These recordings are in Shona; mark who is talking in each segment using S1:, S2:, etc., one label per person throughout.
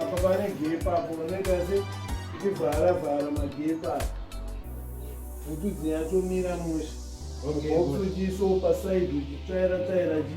S1: apa pane gepa apo unoita se ichivhara vhara magepa kuti dzinyatomira musha ofujiso pasaidi uchitsvaira tsaira ji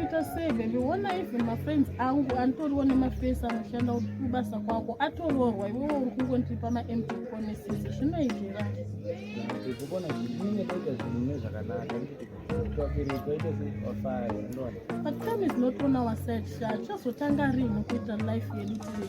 S1: kuita sei baby wona even mafriends angu antoriwo nemafesi anoshanda kubasa kwako atoroorwa iwewo uri kungondiripa mamp promises zvinoitira but time is not on our side sha chazotanga rini kuita life yedu tiri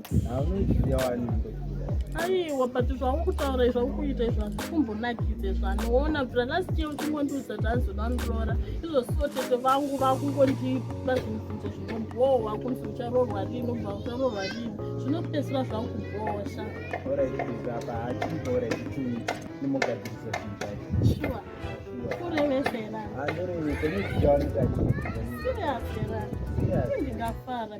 S1: aiwa but zvauri kutaura izvi auri kuita izvi hazvikumbonakidze zvanoona bva last year uchingondiudza kuti azoda ndiroora izvosiwo tete vangu vakungondipa zvinzvinzo zvinobhohwa kunzi ucharorwa rini ubva ucharorwa rini zvinopedzisira zvakubhosha kurevezera ndingafara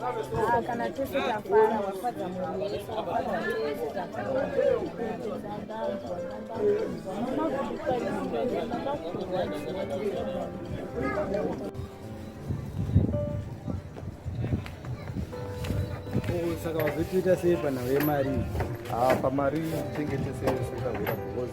S1: Ah, kana tese tafara wafadza munhu wese wafadza tese tafara saka vazotiita sei panhau yemari ah, pamari chengete sei sekahura because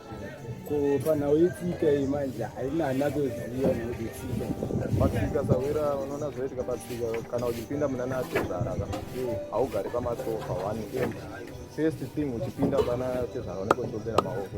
S1: panhau yetsika iyi manje haina anatoziva nekuti tsika patsika sahwira unoona zvaitika patsika kana uchipinda muna natezvara ka haugari pamasofa one end first thing uchipinda pana tezvara unenge uchiobera maoko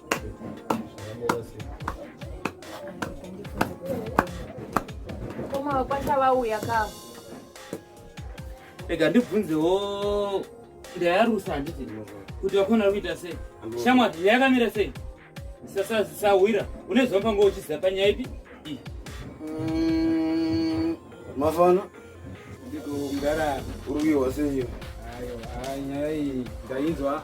S1: Rega ndibvunzewo ndayarusa handiti kuti vakona vari kuita sei shamwati nyaya yakamira sei sasazisahwira une zvamupanga uchiziva panyaya ipi iyi mm, mafana ndiko mdara uri kuihwa seiyo nyaya iyi ndainzwa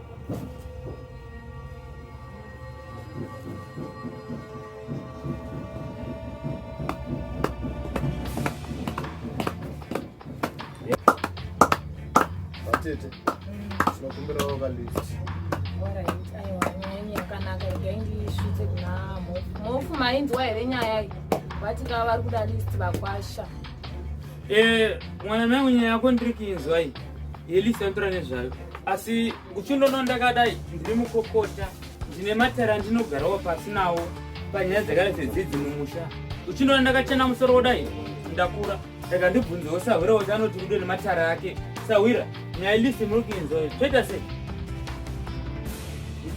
S1: Tete, tinokumbira wava lift. Yakanaka igai ndisvitse kuna mhofu mainzwa here nyaya iyi vati kava vari kuda lift vakwasha Eh, mwana nangu nyaya yako ndiri kinzwa iyi yelisantura nezvayo asi uchindono ndakadai ndiri mukokota ndine matara ndinogarawo pasi nawo panyaya dzakada dzedzidzi mumusha uchindono ndakachena musoro wodai ndakura saka ndibvunzewo sahwira kuti anoti kudo nematara ake sahwira nyaya ilisi muri kuinzoi toita sei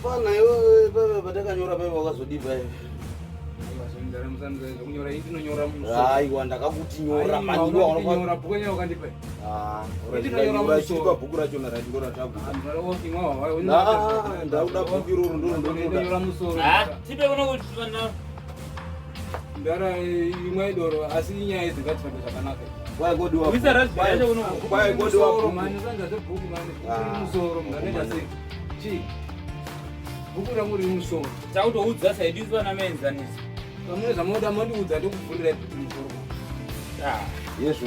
S1: fana iwe paive patakanyora paive wakazodii paive aiwa ndakakuti nyora maniwa Ah, urachiripa bhuku rachona rati ndo ratagudauda bhuku iroro ndorondondotipe kuno kuti ndara imwe idoro asi inyaya idzi ngatitambe zvakanaka bhuku rangu riri musoro tautoudza saidi vana maenzanisa pamune zvamoda mondiudza ndokuvhurira musoro yezvo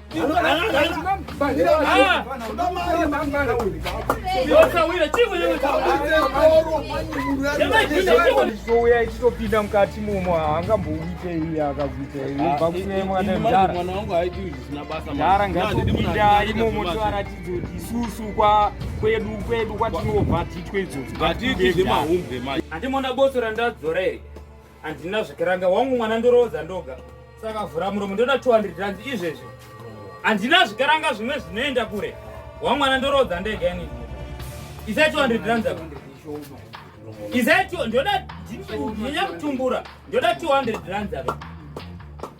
S1: Uya ichitopinda mukati momo haangambouite iye akakuita iyeara ngatopinda imomo toaratidza kuti isusu kwa kwedu kwedu kwatinobva titwe idzodzo andimona botsora ndadzora here handina zvikiranga wangu mwana ndoroodza ndoga saka vhura muromo ndoda 200 rand izvezvi handina zvikaranga zvimwe zvinoenda kure wangu mwana ndoroodza ndega ini isai 200 rand zako isai ndoda ndinya kutumbura ndoda 200 rand zako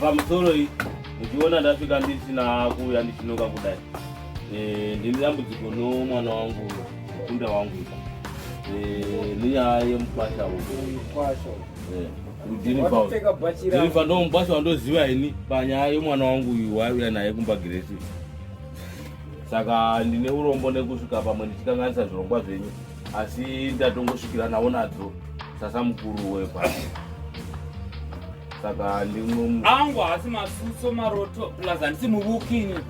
S1: pamusoro iyi muchiona ndasvika ndisina kuuya ndichinoka kudai Eh, ndine dambudziko nomwana wangu mukunda wangu eh, nenyaya yemukwasha eh, ndirifa ndomukwasha wandoziva ini panyaya yomwana wangu uyu waiuya naye kumba giresi saka ndine urombo nekusvika pamwe ndichikanganisa zvirongwa zvenyu asi ndatongosvikira nawo nadzo sasa mukuru wepa saka ndimwe angu haasi masuso maroto plus handisi muvukini